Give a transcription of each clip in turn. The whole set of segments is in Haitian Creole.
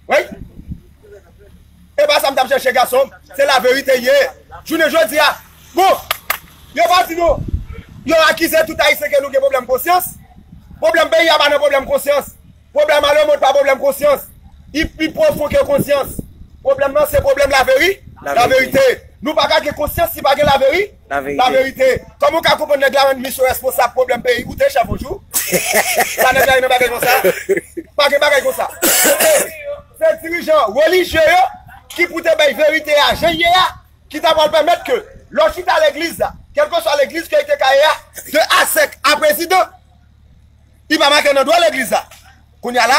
Wey E pa sa m tap chèche gason Se la verite ye Jounen jodi a Bon Yo pa di nou Yo akize tout ayisyen ke nou gen pwoblèm konsyans Pwoblèm peyi a pa nan pwoblèm konsyans Pwoblèm a lemond pa pwoblèm konsyans I pi pwofon ke konsyans Pwoblèm nan se pwoblèm laveri laverite Nou pa ka gen konsyans si pa gen laverite La verite. Koman ou ka konprann nèg la menm li se responsab pwoblèm peyi ou te chèf yon jou? Sa nèg la ye nan bagay konsa? Pa gen bagay konsa. Se dirijan relijye yo ki pou te bay verite a jan l ye a ki ta pral pèmèt ke lè w chita legliz la, kèlkeswa legliz ke li te ka ye a, de a sèk a prezidan, li pa make nan dwa legliz la. Kounya la,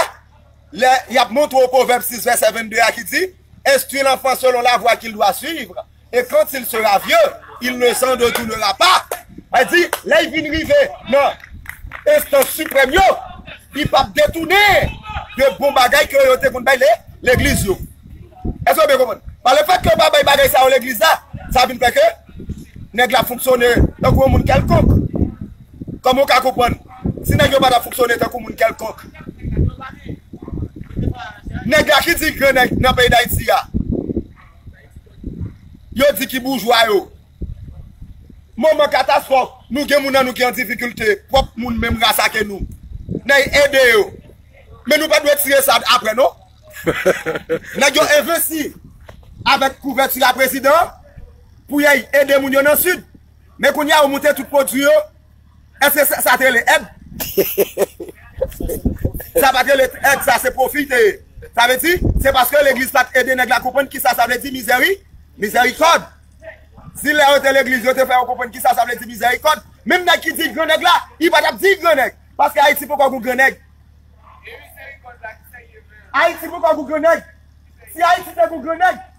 lè y ap montre w pwovèb 6 vèsè 22 a ki di. Enstwi lanfan selon lavwa kil dwa swiv, e kant sil sera vye, il ne san detounera pa. Sa di, lèy vin rive nan enstans siprèm yo, li pap detounen de bon bagay ke yo te konn bay legliz yo. Eske nou byen konprann? Par le fèt ke yo pa bay bagay sa yo legliz la, sa vin fè ke nèg la fonksyone tankou yon moun kèlkonk. Kòman ou ka konprann si nèg yo pa ta fonksyone tankou moun kèlkonk? Nèg la ki di gran nèg nan peyi Dayiti a, yo di ki boujwa yo. Moman katastwòf, nou gen moun nan nou ki an difikilte, pwòp moun menm ras ake nou, nèy ede yo. Men nou pa dwe tire sa apre non. Nèg yo envesti avèk kouvèti a prezidan pou yay ede moun yo nan Sid. Men kounye a ou moute tout pwodui yo, èske sa te rele èd? Sa pa te rele èd, sa se pwofi l te ye. Sa vle di, se paske legliz pa t ede nèg la konprann kisa sa vle di mizèri, mizèrikòd. Si lè yo te legliz yo te fè yo konprann kisa sa vle di mizèrikòd, menm nèg ki di grannèg la, li pa t ap di grannèg, paske Ayiti poko gou grannèg. Ayiti poko gou grannèg. Si Ayiti te gou grannèg.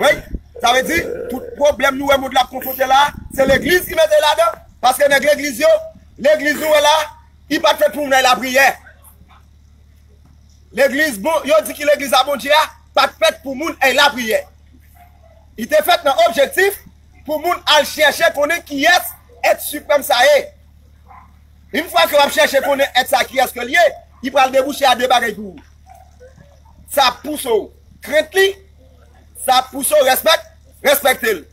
Wey sa vle di tout pwoblèm nou wè mond la ap konfronte la se legliz ki mete ladan paske nèg legliz yo legliz nou wè la li pat fèt pou moun al lapriyè legliz bon yo di ki legliz a Bondye a pat fèt pou moun al lapriyè li te fèt nan objektif pou moun al chèche konnen kiyès èt siprèm sa ye yn fwa ke wap chèche konnen èt sa kiyès ke l ye li pral debouche a de bagay pou ou. sa ap pouse w krent li, sa ap pouse w respèk, respekte l.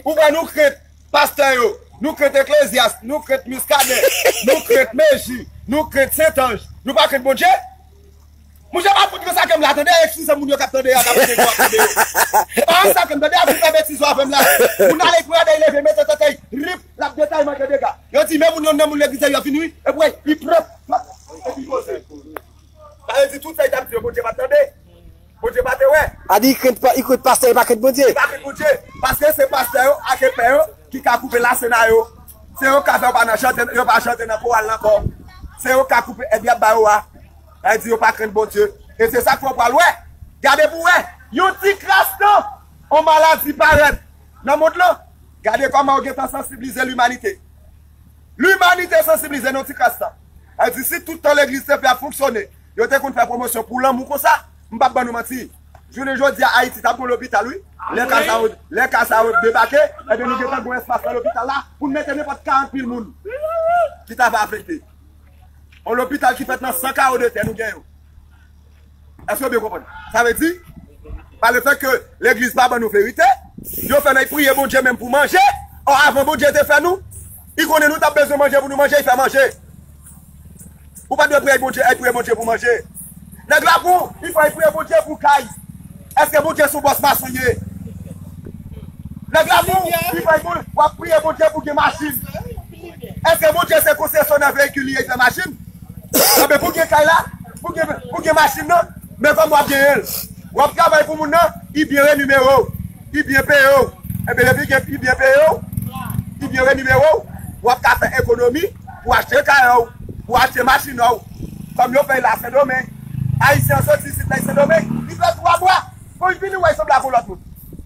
Ou wè nou krent pastè yo, nou krent eklezyas, nou krent Muscadin, nou krent Meji, nou krent Sentanj, nou pa krent Bondje? Mon chè pa fout masakrem la tande eskize moun yo kap tande yo ak abone yo ak tande yo e pa masakrem tande a fin fè betiz yo avèm la moun ale pran dèy leve mete sèkèy rip lap gen tay manke dega yo di men moun yon nan moun legliz la yo fin ri epwen li pran epi poze. Sa vle di tout sa li tap di yo Bondye pat tande? Bondye pa te wè? A di i krent pastè li pa krent Bondye? Li pa krent Bondye paske se pastè yo ak epè yo ki ka koupe lasena yo. Se yo ka fè yo pa nan chante, yo pa chante nan koral nan ankò. Se yo ka koupe èd yap ba yo a. Sa vle di yo pa krent Bondye. E se sak fè w pral wè. Gade pou wè. Yon ti kras tan, yon maladi parèt nan mond lan. Gade kòman yo gentan sansiblize limanite. Limanite sansiblize nan ti kras la. Al di si tout tan legliz te fè ap fonksyone, yo te konn fè pwomosyon pou lanmou konsa, m pap ban nou manti. Jounen jodi a Ayiti tap gon lopital wi. Lè ka sa yo, lè ka sa yo debake, ebyen nou gentan gon espas nan lopital la pou n mete nenpòt 40 mil moun ki ta va afekte. On lopital ki fèt nan 100 kawo de tè nou gen yo. Èske yo byen konprann? Sa vle di, pa le fèt ke legliz pa ban nou verite, yo fè nèg priye Bondye menm pou manje, ò avan Bondye te fè nou, I konnen nou tap bezwen manje pou nou manje, I fè manje. Ou pa dwe priyay Bondye, èy priye Bondye pou manje. Nèg la pou, I fè èy priye Bondye pou kay. Èske Bondye son bòs mason ye? Nèg la pou, I fè èy wap priye Bondye pou gen machin. Eske Bondye se konsesyonè veyikil li ekzan machin? Anben pou gen kay la, pou gen machin nan, men kòm wap genyen l, wap travay pou moun nan, li byen renimere w, li byen peye w, enben depi li byen peye w, li byen renimere w, wap ka fè ekonomi pou achte kay ou, pou achte machin ou, kòm yo fè l a Sendomeng, Ayisyen an soti isit lè l Sendomeng, li fè 3 mwa, konj vini wè l sanble ak yon lòt moun.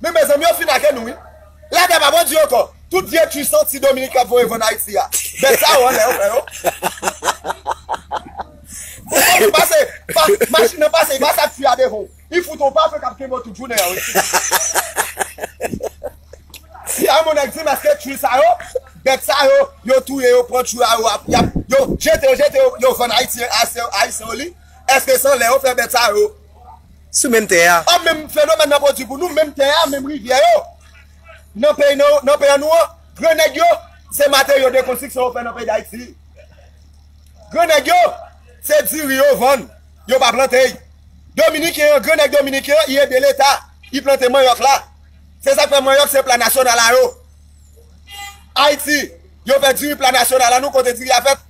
Men mezanmi yo fin ake nou wi. La tè pa bon di anko. Tout vye tu santi Dominique kap voye vann Haiti a. Bèt sa yo anlè yo fè yo. Ou konn li pase pa machin nan pase li pase ak fi a devan w. Li fout on pafen kap kenbe w tout jounen an wi. Fi a yon nèg di maske tu sa yo bèt sa yo yo touye yo pran tu a yo ap yap yo jete yo jete yo vann Haitien ayisyen yo li. Eske sanlè yo fè bèt sa yo. sou menm tè a. A Menm fenomèn nan pwodui pou nou, menm tè a, menm rivyè yo nan peyi nou, nan peyi nou an. Gran nèg yo, se materyo de konstriksyon yo fè nan peyi Dayiti. Gran nèg yo, se diri yo vann, yo pa plante. Dominiken an, gran nèg dominiken an, i ede leta, i plante manyòk la. Se sa k fè manyòk se pla nasyonal a yo. Ayiti, yo fè diri pla nasyonal a nou, kote diri a fèt.